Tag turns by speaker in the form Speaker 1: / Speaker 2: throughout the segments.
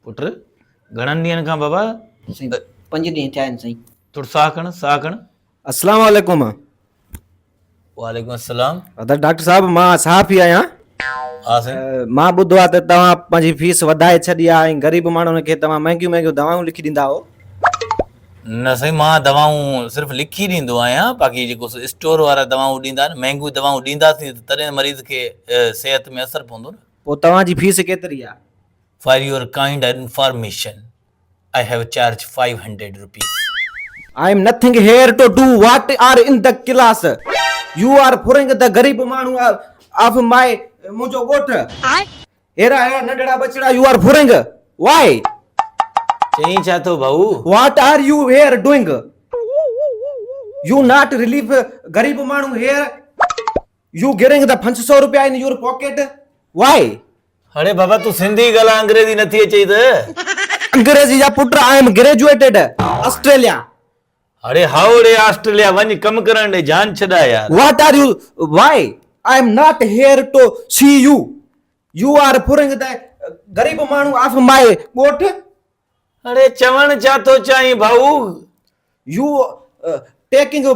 Speaker 1: پٽ! گهڻن ڏينهن کان بابا. سائين! پنج
Speaker 2: ڏينهن ٿيا آهن سائين. ٿورو ساهه کڻ، ساهه
Speaker 1: کڻ. السلام عليڪم. وعليڪم السلام. ادا ڊاڪٽر صاحب مان
Speaker 3: صحافي آهيان. ها سائين.
Speaker 1: مان ٻڌو آهي ته توهان
Speaker 3: پنهنجي فيس وڌائي ڇڏي آهي ۽ غريب ماڻهن کي توهان مهنگيون مهنگيون دوائون لکي ڏيندا آهو.
Speaker 1: نه سائين مان دوائون صرف لکي ڏيندو آهيان باقي جيڪو سو اسٽور وارا دوائون ڏيندا آهن مهنگيون دوائون ڏينداسين ته تڏهن مريض کي صحت ۾ اثر پوندو نه. پوء توهان جي فيس
Speaker 3: ڪيتري آهي؟ For your
Speaker 1: kind information I have charge five hundred rupees. I am
Speaker 3: nothing here to do what are in the class you are ڦرنگ دي غريب ماڻهو آف مائي منهنجو ڳوٺ هيرا هيرا ننڍڙا ٻچڙا يو آر ڦرنگ وائي
Speaker 1: چئين ڇا ٿو ڀائو what are you
Speaker 3: here doing you not relief غريب ماڻهو هيئر. يو گيرنگ ڌا پنج سؤ روپيا ان يور پاڪيٽ وائي. اڙي بابا
Speaker 1: تون سنڌي ڳالهاء انگريزي نٿي اچئي ته. انگريزي جا پٽ
Speaker 3: آء ايم گريجوئيٽيڊ آسٽريليا. اڙي
Speaker 1: هائو اڙي آسٽريليا وڃ ڪم ڪرڻ ڏي جان ڇڏاء يار. What are you
Speaker 3: why I am not here to see you you are پورنگ ڌا غريب ماڻهو آف مائي ڳوٺ. اڙي
Speaker 1: چوڻ ڇا ٿو چاهين ڀائو؟ يو
Speaker 3: ٽيڪنگ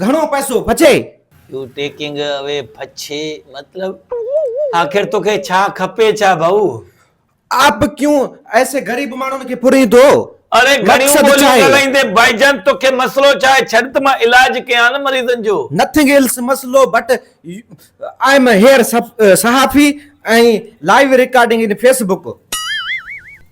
Speaker 3: گهڻو پئسو پڇي. يو ٽيڪنگ
Speaker 1: اوي پڇي مطلب آخر توکي ڇا کپي ڇا ڀائو؟ آپ
Speaker 3: ڪيون ايسي غريب ماڻهن کي پوريندو؟ اڙي گهڻيون
Speaker 1: ٻوليون ڳالهائيندين ڀائيجان توکي مسئلو ڇا آهي ڇڏ ته مان علاج ڪيان نه مريضن جو. نٿنگ ايلس مسئلو
Speaker 3: بٽ آء ايم هيئر صحافي ۽ live recording in Facebook.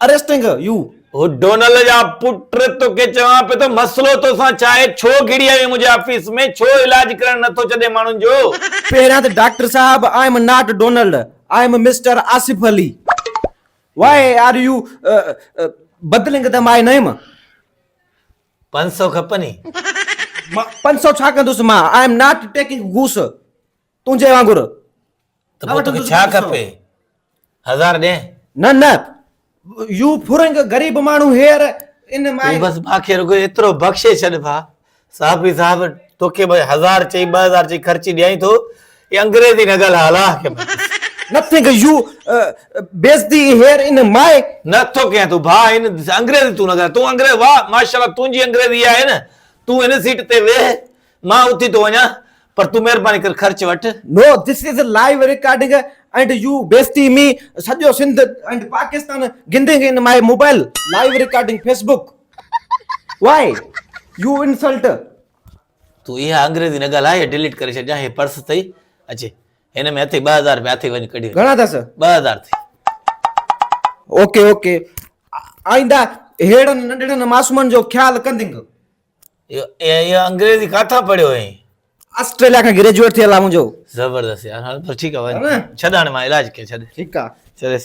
Speaker 3: Arresting you. هو ڊونلڊ
Speaker 1: جا پٽ توکي چوان پيو ته مسئلو توسان ڇا آهي؟ ڇو گهڙي آيو آهين منهنجي آفيس ۾؟ ڇو علاج ڪرڻ نه ٿو ڇڏين ماڻهن جو؟ پهريان ته ڊاڪٽر
Speaker 3: صاحب I am not Donald I am mister Asif Ali why are you بدلنگ دي مائي نيم.
Speaker 1: پنج سئو کپني.
Speaker 3: پنج سئو ڇا ڪندس مان آء ايم ناٽ ٽيڪنگ گهوس. تنهنجي وانگر ته پوء
Speaker 1: توکي ڇا کپي؟ هزار ڏينهن؟ نه نه
Speaker 3: يو ڦرنگ غريب ماڻهو هيئر ان مائي. تون بس مانکي رڳو
Speaker 1: ايترو بخشي ڇڏ ڀا. صحافي صاحب توکي به هزار چئي ٻه هزار چئي خرچي ڏيائين ٿو اي انگريزي نه ڳالهاء الله کي مانس. نٿنگ يو
Speaker 3: بيزتي هيئر ان مائي. نه ٿو ڪيان تون ڀا
Speaker 1: ان انگريزي تون نه ڳالهاء تون انگريز واه ماشاءالله تنهنجي انگريزي اها آهي نه تون ان سيٽ تي ويهه مان اٿي ٿو وڃان پر تون مهرباني ڪر خرچ وٺ. No this is a
Speaker 3: live recording and you بيستي مي سڄو سنڌ اينڊ پاڪستان گندنگ in my mobile live recording Facebook why you insult. تون
Speaker 1: اها انگريزي نه ڳالهاء يا ڊيليٽ ڪري ڇڏجان هي پرس ٿئي اچي هن ۾ اٿئي ٻه هزار رپيا اٿئي وڃ ڪڍي گهڻا اٿس ٻه هزار
Speaker 3: ٿئي
Speaker 1: اوڪي اوڪي
Speaker 3: آئنده ههڙن ننڍڙن معصومن جو خيال ڪندنگ.
Speaker 1: ايئن انگريزي ڪاٿان پڙهيو هئين؟ آسٽريليا کان
Speaker 3: گريجوئيٽ ٿيل آ منهنجو.
Speaker 1: زبردست
Speaker 3: يار
Speaker 1: هل
Speaker 3: پر
Speaker 1: ٺيڪ آ وڃ ڇڏ هاڻي مان علاج
Speaker 3: ڪيان
Speaker 1: ڇڏ. ٺيڪ آ. چرس.